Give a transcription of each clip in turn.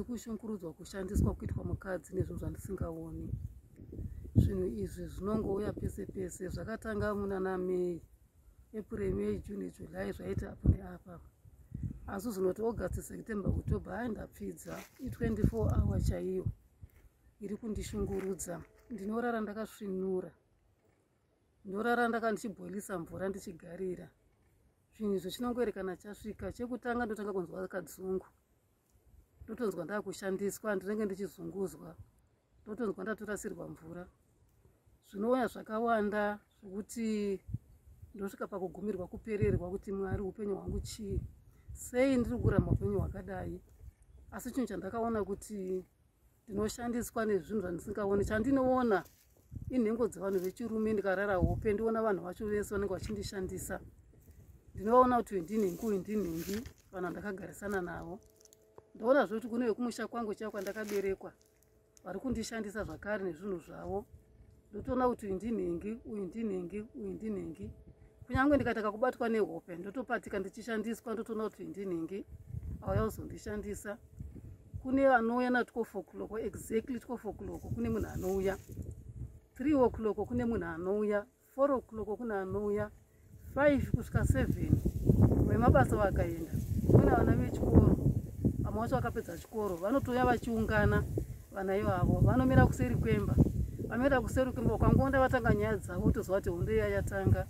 kushungurudzwa kushandiswa kuitwa mukadzi nezvinhu zvandisingaoni zvinhu izvi zvinongouya pese pese zvakatanga munana may april may june july zvaita apo neapa asi zvinoti august september october ai ndapfidza i24 hour chaiyo iri kundishungurudza ndinorara ndakasvinura ndorara ndaka ndichibhoilisa mvura ndichigarira zvinhu izvo chinongoerekana chasvika chekutanga ndotanga kunzwa kadzungu ndotonzwa ndakushandiswa ndinenge ndichizunguzwa ndotonzwa ndatorasirwa mvura zvinouya zvakawanda zvekuti ndosvika pakugumirwa kupererwa kuti mwari upenyu hwangu chii sei ndiri kuramba upenyu hwakadai asi chinhu chandakaona kuti ndinoshandiswa nezvinhu zvandisingaone chandinoona inhengo dzevanhu vechirume ndikarara hope ndiona vanhu vacho vese vanenge vachindishandisa ndinovaona kuti wendinhingi uyu ndinhingi vanhu vandakagarisana navo ndoona zve kuti kune vekumusha kwangu chaivo kwandakaberekwa vari kundishandisa zvakare nezvinhu zvavo ndotoona kuti uyu ndinhingi uyu ndinhingi uyu ndinhingi kunyange ndikataka kubatwa nehope ndotopatika ndichishandiswa ndotoona kuti uyu ndinhingi auya kuzondishandisa kune vanouya na12 o'clock exactly 12 o'clock kune munhu anouya 3 o'clock kune munhu anouya 4 o'clock kune anouya 5 kusvika 7 vemabasa vakaenda kune vana vechikoro vamwe vacho vakapedza chikoro vanotouya vachiungana vana ivavo vanomira kuseri kwemba vamira kuseri kwemba ukangonda vatanga nyaya dzavo toziva kuti hondo iya yatanga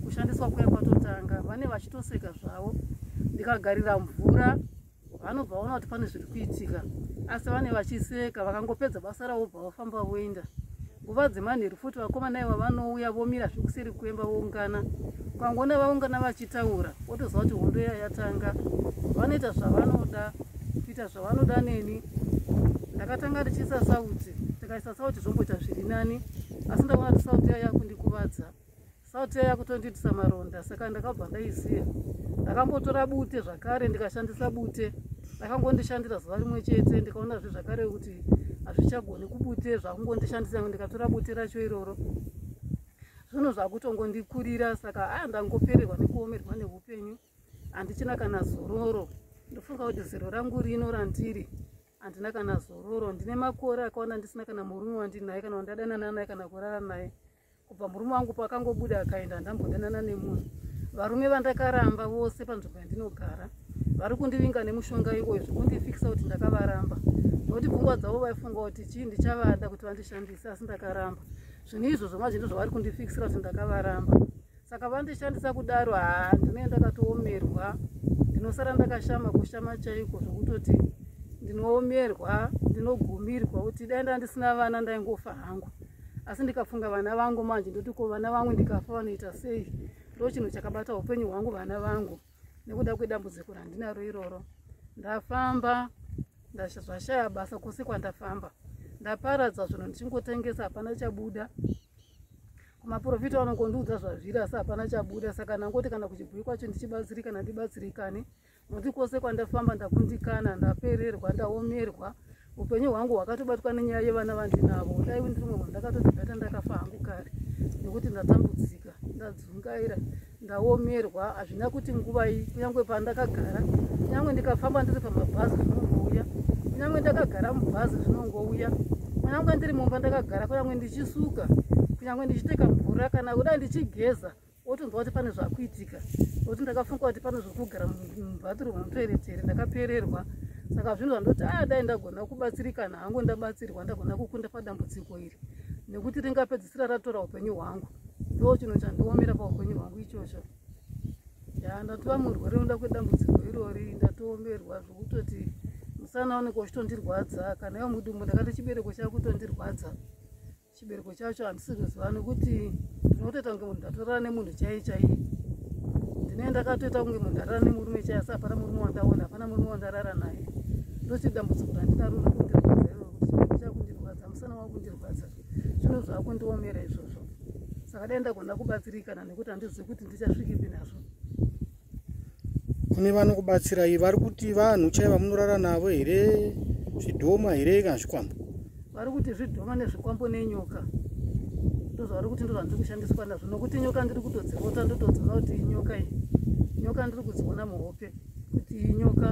kushandiswa kuya kwatotanga vane vachitoseka zvavo ndikagarira mvura vanobva vaona kuti pane zviri kuitika asi vane vachiseka vakangopedza basa ravo bva vafamba voenda nguva dzemanheru futi vakomana iva vanouya vomira zvekuseri kwemba voungana kwangoona vaungana vachitaura wotoziva kuti hondo iya yatanga vanoita zvavanoda kuita zvavanoda neni ndakatanga ndichiisa sauti ndikaisa sauti zvomboita zviri nani asi ndaona kuti sauti iya yakundikuvadza Salt yaya kutondiitisa maronda saka ndakabva ndaisiya. Ndakambotora bute zvakare ndikashandisa bute. Ndakangondishandira zuva rimwe chete ndikaona zve zvakare kuti hazvichagoni kubute zvakungondishandisa ndikatora bute racho iroro. Zvinhu zvakutongondikurira saka aa ndangopererwa nekuomerwa neupenyu. Handichina kana zororo. Ndofunga kuti zero rangu rino randiri handina kana zororo ndine makore akaona ndisina kana murume wandinaye kana wandadanana naye kana kurara naye kubva murume wangu paakangobuda akaenda handambodanana nemunhu varume vandakaramba vose panzvimbo yandinogara vari kundivinga nemushonga iwoyo zvekundifikisa kuti ndakavaramba nokuti pfungwa dzavo vaifunga kuti chii ndichavada kuti vandishandise asi ndakaramba zvinhu izvozvo mazvinto zvavari kundifikisira kuti ndakavaramba saka vandishandisa kudaro haa ndinee ndakatoomerwa ndinosara ndakashama kushama chaiko zvokutoti ndinoomerwa ndinogumirwa kuti dai nda ndisina vana ndaingofa hangu asi ndikafunga vana vangu manje ndoti ko vana vangu ndikafa vanoita sei ndo chinhu chakabata upenyu hwangu vana vangu nekuda kwedambudziko randinaro iroro ndafamba zvashaya basa kwose kwandafamba ndaparadza zvinhu ndichingotengesa hapana chabuda maporofita vanongondiudza zvazviri asi hapana chabuda saka ndangoti kana kuchibhuyi kwacho ndichibatsirikana ndibatsirikane nokuti kwose kwandafamba ndakundikana ndapererwa ndaomerwa upenyu hwangu hwakatobatwa nenyaya yevana vandinavo dai ndiri mumwe ndakatozibata ndakafa hangu kare nekuti ndatambudzika ndadzungaira ndaomerwa hazvina kuti nguvai kunyange pandakagara kunyange ndikafamba ndiri pamabhazi zvinongouya kunyange ndakagara mubhazi zvinongouya kunyange ndiri mumba ndakagara kunyange ndichisuka kunyange ndichiteka mvura kana kudai ndichigeza otonzwa kuti pane zvakuitika nokuti ndakafunga kuti pane zvokugara mubathroom mutoeretere ndakapererwa saka zvinhu zvandoti a ah, dai ndagona kubatsirikana hangu ndabatsirwa ndagona kukunda padambudziko iri nekuti ringapedzi sira ratora upenyu hwangu ndo chinhu chandiomera paupenyu hwangu ichocho ya ndatova murwere unoda kwedambudziko irori ndatoomerwa zvokutoti musana oneka uchitondirwadza kana iwo mudumbu ndakati chibereko chava kutondirwadza chibereko chacho handisi kuziva nokuti ndinotoita kunge munhu ndatorana nemunhu chaiye chaiye ndine ndakatoita kunge munhu ndarara nemurume chaiye asi hapana murume wandaona hapana murume wandarara naye ndochidambudziko randinaro riri kundirwadza iroro kuti chibereko chava kundirwadza musana wava kundirwadza zvino zvakundiomera izvozvo saka dai ndagona kubatsirikana nekuti handizivi kuti ndichasvikipi nazvo kune vanokubatsirai vari kuti vanhu chai vamunorara navo here zvidhoma here kana zvikwambo vari kuti zvidhoma nezvikwambo nenyoka ndozvavari kuti ndozvandiri kushandiswa nazvo nokuti nyoka ndiri kutodzivota ndotodziona kuti inyoka iyi nyoka ndiri kudziona muhope kuti inyoka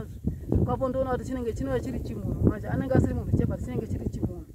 zvikwambo ndoona kuti chinenge chinova chiri chimunhu manje anenge asiri munhu chebati chinenge chiri chimunhu